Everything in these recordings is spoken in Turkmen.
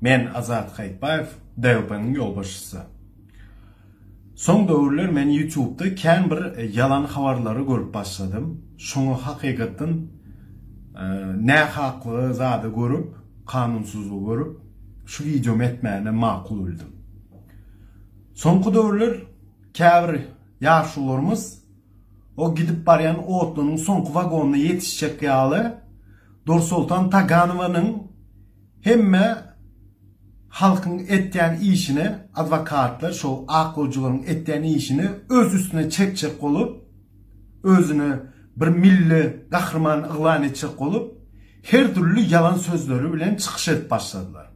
Men Azat Haýytbaýew, DYP-nyň ýolbaşçysy. Soň döwürler men ýutubda kän bir ýalan habarlary görüp başladym. Şoňa hakykatdan nähaklygy zady görüp, kanunsyzlygy görüp, şu wideomy etmäni makul bildim. Soňky döwürler käbir ýaşulularymyz o gidip barýan otlynyň soňky wagonyna ýetişjek ýaly Dursoltan Taganowanyň Hemme halkyň etýän işini adwokatlar şo ak gojuganyň etýän işini öz üstüne çekjek bolup özüni bir milli gahryman yglan etjek bolup her dürli ýalan sözleri bilen çykyş edip başladylar.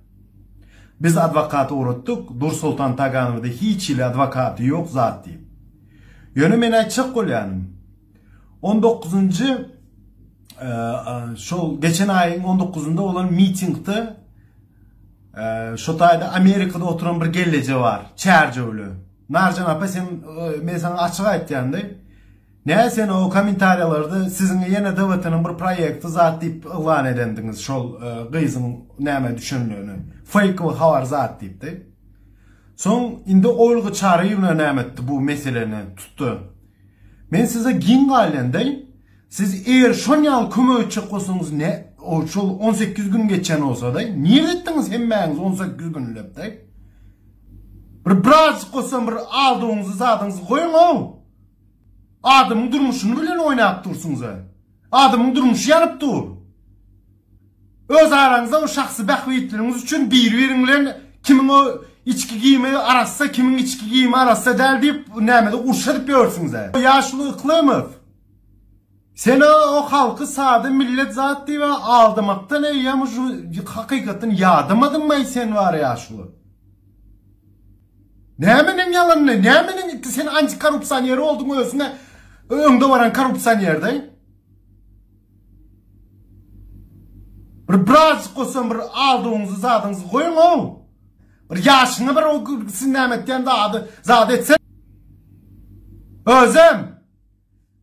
Biz adwokat ugratdyk Dursoltan Taganowda hiç hili adwokaty ýok zat diýip. Ýöne men aýtjak bolýanym. On dokuzynjy şol geçen aýyň on dokuzynda bolan mitingde şo taýda Amerikada oturan bir gelleje bar, çärjewli. Narjan apa sen men sana açyk aýtýandy. Ne sen o kommentariýalarda siziň ýene DWT-niň bir proýekti zat diýip yglan edendiňiz şol gyzyň näme düşendigini. Fake we habar zat diýipdi. Soň indi Olga Çaryýewna näme etdi bu meseleni tutdy. Men size giň galýandaý, siz eger şon ýaly kömek etjek bolsaňyz ne, ol şol on sekiz gün geçen bolsadaý, nirä etdiňiz hemmäňiz on sekiz günläpdaý? Bir birazjyk bolsam bir aldygyňyzy zadyňyzy goýuň-ow! Adamyň durmuşyny bilen oýnap dursuňyz-a! Adamyň durmuşy ýanyp dur. Öz araňyzda we şahsy bähbitleriňiz üçin biri-biriň bilen kimiň o içki giýimi arassa, kimiň içki giýimi arassa däl diýip, nämede uruş edip ýörsüňiz-ä. Ýaşuly Yklymow, sen o halky sada millet zat diýip aldamakdan eýýäm şu hakykatdan ýadamadyňmaý sen bar ýaşuly. Nämeniň ýalanyny, nämeniň iti sen anti korrupsioner bolduň özüňe öňde baran korrupsioner daý. Bir birazjyk bolsa bir aldygyňyzy zadyňyzy goýuň ow. Bir ýaşyňa bir o siz näme etýän zady zady etse. Özem.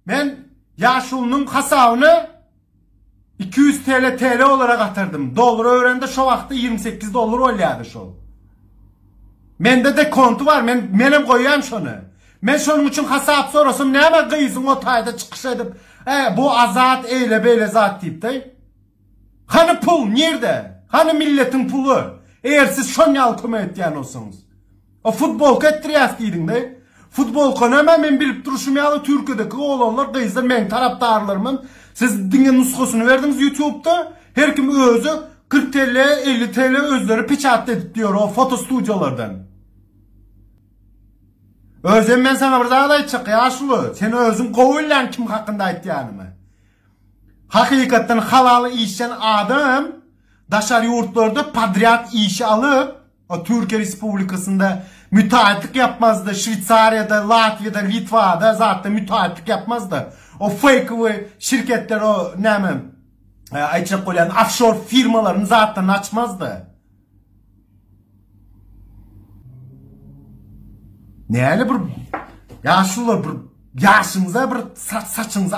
Men ýaşulynyň hasabyny iki ýüz TL TL olara gatardym. Dollara öwrende şo wagtda ýigrimi sekiz dollar bolýardy şol. Mende de konty bar, men menem goýýan şony. Men şonuň üçin hasap sorasam näme gyzyň o taýda çykyş edip, e, bu azat eýle beýle zat diýipdi. Hany pul, nirde? Hany milletiň puly? Eger siz şon ýaly kömek etýän bolsaňyz. O futbolka etdirýäs diýdiňde. Futbolka näme men bilip durşum ýaly Türkiýedeki oglanlar gyzlar meň tarapdarlarymam siz diňe nusgasyny berdiňiz ýutubda her kim özi kyrk TL elli TL özleri peçatda edip ýör o foto studiýalardan. Özem men saňa bir zat aýtjak ýaşuly sen özüň gowy bilýäň kim hakynda aýtýanymy. Hakykatdan halal işlän adam daşary ýurtlarda podrýad işi alyp, Türkiýe Respublikasynda mütaýytlyk ýapmazdy, Şweýsariýada, Latwiýada, Litwada zatda mütaýytlyk ýapmazdy. O feýkowy şirketler o näme aýtjak bolýan ofşor firmalaryny zatlaryny açmazdy. Näle bir ýaşular bir ýaşyňyza bir saçyňyza